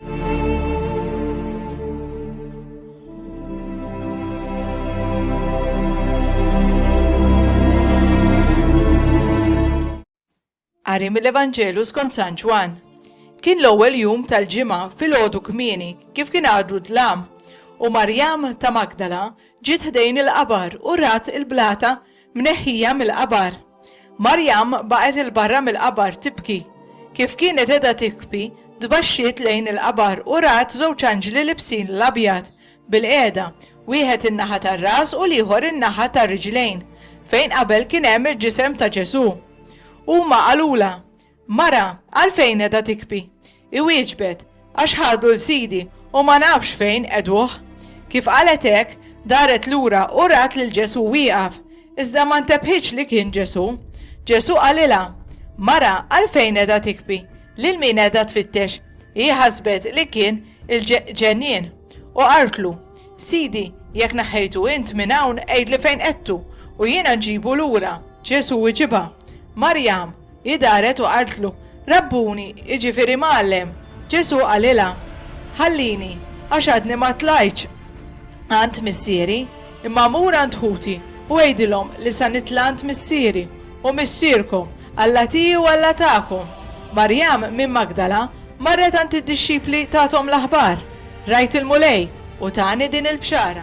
Qari mill-Evanġelu skont San Ġwan. Kien l-ewwel jum tal-ġimgħa fil-għodu kmieni kif kien għadu dlam u Marjam ta' Magdala ġiet ħdejn il-qabar u rat il-blata Mneħħija mill-qabar. Marjam baqgħet 'il barra mill-qabar tibki. Kif kienet qiegħda tibki, tbaxxiet lejn il-qabar u rat żewġ anġli libsin l-abjad, bilqiegħda, wieħed in-naħa tar-ras u l-ieħor in-naħa tar-riġlejn, fejn qabel kien hemm il-ġisem ta' Ġesù. Huma qalulha, Mara, għalfejn qiegħda tikbi? Iwieġbet, Għax ħadu 'l Sidi u ma nafx fejn qegħduh. Kif qalet hekk, daret lura u rat lil Ġesù wieqaf, iżda ma ntebħitx li kien Ġesù. Ġesù qalilha, Mara, għalfejn qiegħda tikbi? Lil min qiegħda tfittex? Hi ħasbet li kien il-ġenien u qaltlu, Sidi, jekk neħħejtu int minn hawn għidli fejn qedtu u jiena nġibu lura. Ġesù wiġibha, Marjam! Hi daret u qaltlu, Rabbuni, jiġifieri Mgħallem. Ġesù qalilha, Ħallini, għax għadni ma tlajtx għand Missieri, imma mur għand ħuti u għidilhom li sa nitla' għand Missieri u Missierkom, Alla tiegħi u Alla tagħkom. Marjam minn Magdala marret għand id-dixxipli tagħthom l-aħbar, Rajt il-Mulej u tani din il-bxara.